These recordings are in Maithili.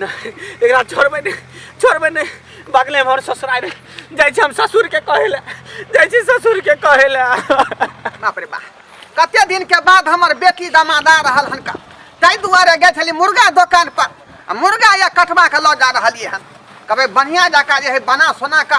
नहि एकरा छोड़बै नहि छोड़बै नहि बगले हमर ससुराल रे जाइ छी हम ससुरके कहै लए जाइ छी ससुरके कहै लए बाप रे बाप कते दिन के बाद हमर बेटी दामाद आ रहल हन का ताहि दुआरे गए छली मुर्गा दोकान पर आ मुर्गा या कटबा के लऽ जा रहलिए हन कभी बढ़िया जका जे है बना सोना का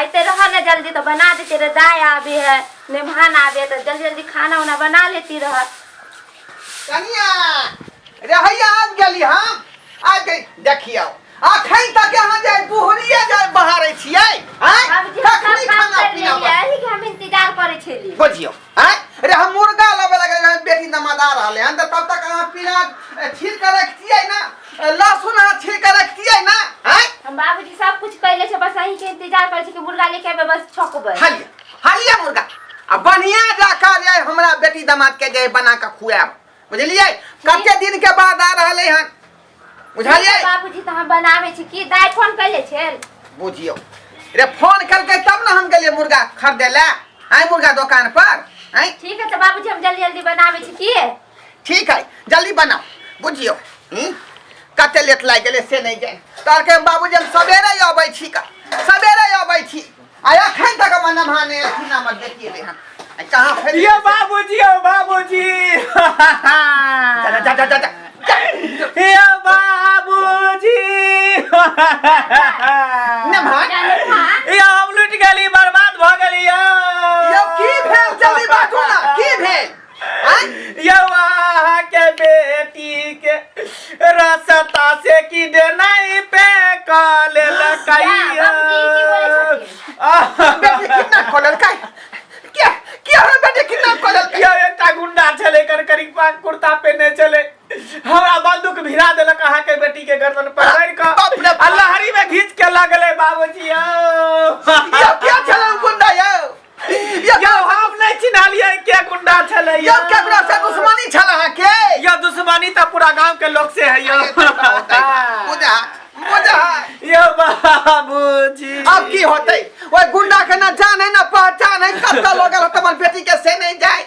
आते रहा ना जल्दी तो बना देते रहे दाय आवे है मेहमान आवे तो जल्दी जल्दी खाना उना बना लेती रहा कनिया रे हैया आज गेली हम आज गई देखियो अखन तक यहाँ जे बुहरिया जे बहारे छियै हैं बाबूजी हम कखनी सब काम खाना कर पीना लेलियै एही के हम इंतजार करे छेली बुझियो हैं रे हम मुर्गा लबे लगे रहे बेटी नमादार रहले हन त तब तक अहाँ पीना छील के रखतियै ना लहसुन अहाँ छील के रखतियै ना हैं हम बाबूजी सब कुछ कैले छै बस अहीं के इंतजार करै छी कि मुर्गा लेके एबै बस छकबै हालिया हालिया मुर्गा आ बढ़िया जाकर जे हमरा बेटी दामाद के जे बना के खुआब बुझलियै कते दिन के बाद आ रहले हन बुझलियै बाबूजी तऽ हम बनाबै छी की दाय फोन कैले छै बुझियो रे फोन करके तब ना हम गेलिए मुर्गा खरीदे ले आय मुर्गा दुकान पर आय ठीक है तऽ बाबूजी हम जल्दी जल्दी बनाबै छी की ठीक है जल्दी बनाओ बुझियो हम्म? कते लेट लाग गेले से नहीं जान तोर के बाबूजी हम सवेरे ही अबै छी का सवेरे ही अबै छी आ एखन तक हमर नमहाने अथी ना मत देखिए रे हम आ कहाँ फेर यो बाबूजी ओ बाबूजी जा जा जा जा जा यो बाबूजी नमहान यो हम लुट गेली बर्बाद भ गेली यो की भेल जल्दी बाजू ना की भेल यौ अहाँके बेटी के रास्ता से की देनाई पे कॉल लकाइया कितना खोलल काय क्या क्या रे बेटे कितना खोलल काय यौ एकटा गुंडा छले कर करी पा कुर्ता पहने छले हमरा बंदूक भिरा देलक अहाँ के बेटी के गर्दन पर मार के बाप रे बाप। अल्लाहरी में घींच के लगले बाबूजी यौ क्या क्या छले गुंडा यौ यौ हम नहि चिन्हलियै के गुंडा छलै यौ केकरा से दुश्मनी छल अहाँ के यौ दुश्मनी तऽ पूरा गांव के लोग से है यौ बुझा बुझा यौ बाबूजी अब की होतै ओइ गुंडा के ना जान है ना पहचान है कत्ता लोग हमर बेटी के से नहीं जाय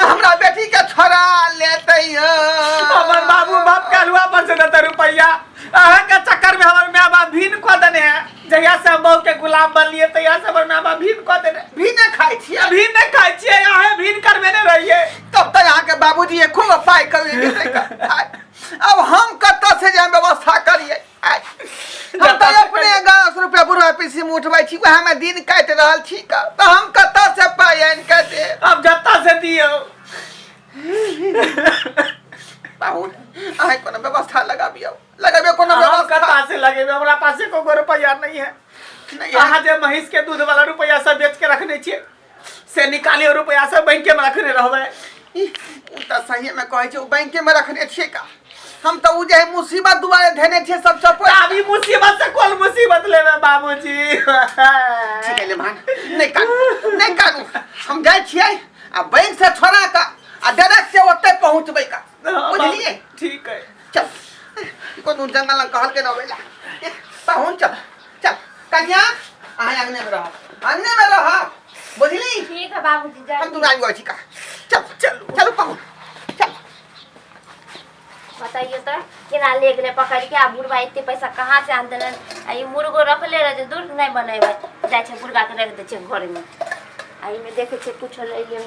हमरा बेटी के छोड़ा लेते हो हमर बाबू बाप के हलवा पर से देते रुपया अहाँ के चक्कर में हमर माँ बाप भीन को देने है जहिया से हम बहू के गुलाम बनलिए तहिया से हमर माँ बाप भीन को देने भी न खाई छी ये भीन नहीं खाए छिए अहे भीन करबे नहीं रहिए तब तक अहाँ के बाबूजी एको गो पाई कभी नहीं देलकै। आय, अब हम कतऽ से जाए व्यवस्था करिए हम तऽ अपने दस रुपया बुढ़वा पीसी में उठबै छी वएह में दिन काटि रहल छी का तऽ हम कतऽ से पाइ आनि कऽ दे अब जत्ता से दियो पाहुन अहाँ कोनो व्यवस्था लगाबियौ लगाबियौ कोनो हम व्यवस्था कत्ता से लगेबे हमरा पास एको गो रुपया नहीं है नहीं अहाँ जे महींस के दूध वाला रुपया सब बेच के रखने छियै से निकालियो रुपया सब बैंक में रखने रहबे ई, उ त सही में कहै छै उ बैंक में रखने छियै का हम त उ जे है मुसीबत दुआरे धेने छियै सब चपड़ अभी मुसीबत से कोन मुसीबत लेबे बाबूजी ठीक है लेमान नहीं कानू नहीं कानू हम जाए छियै आ बैंक से छोड़ा का आ डायरेक्ट से ओते पहुंचबै का बुझलिए ठीक है चल कोनो जंगल में कहल के न होइला पहुंच चल चल कन्या आय अंगने में रह अंगने में रह बुझली ठीक है बाबूजी जा हम तू आई गई का चल चल चल पहुंच चल बताइए तो केना ले गेले पकड़ के आ बुढ़वा एते पैसा कहाँ से आन देलन आ ई मुर्गो रखले रह जे दूर नहीं बनेबे जाइ छै बुढ़वा के रख दै छै घर में आ ई में देखे छै कुछ ले ले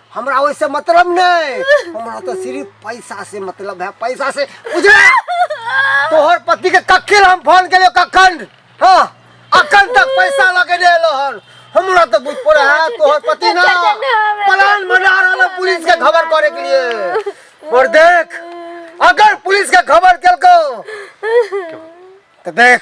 हमरा ओइसे मतलब नहीं हमरा तो सिर्फ पैसा से मतलब है पैसा से बुझे तोहर पति के कखिल हम फोन के लिए कखन हाँ अखन तक पैसा लगे दे लो हन हमरा तो बुझ पड़े है तोहर पति ना प्लान बना रहा है पुलिस के खबर करे के लिए और देख अगर पुलिस के खबर केलको तो देख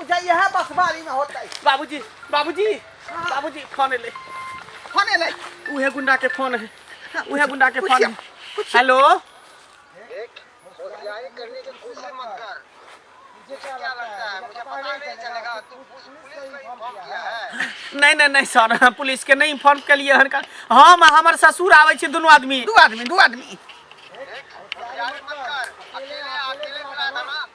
उजा यह बसवारी में होता है बाबूजी बाबूजी बाबूजी फोन ले फोन ले उहे गुंडा के फोन है उहे गुंडा के फोन है हेलो नहीं नहीं नहीं सर हम पुलिस के नहीं इन्फॉर्म के लिए हन का हम आ हमर ससुर आवे छी दोनों आदमी दू आदमी दू आदमी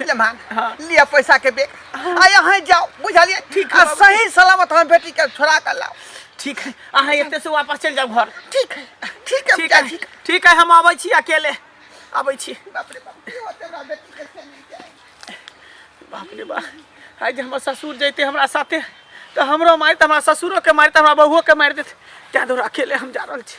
ले मान लिया पैसा के बेग आ यहाँ जाओ बुझलिए ठीक आ सही सलामत हम बेटी के छोड़ा कर लाओ ठीक है अहाँ एते से वापस चल जाओ घर ठीक है ठीक है ठीक है ठीक ठीक है हम आबै छी अकेले आबै छी बाप रे बाप की होते हमरा बेटी के से नहीं जाए बाप रे बाप आइ जे हमर ससुर जैते हमरा साथे तऽ हमरो मारि तऽ हमरा ससुरो के मारि तऽ हमरा बहुओ के मारि देत तैं दुआरे अकेले हम जा रहल छी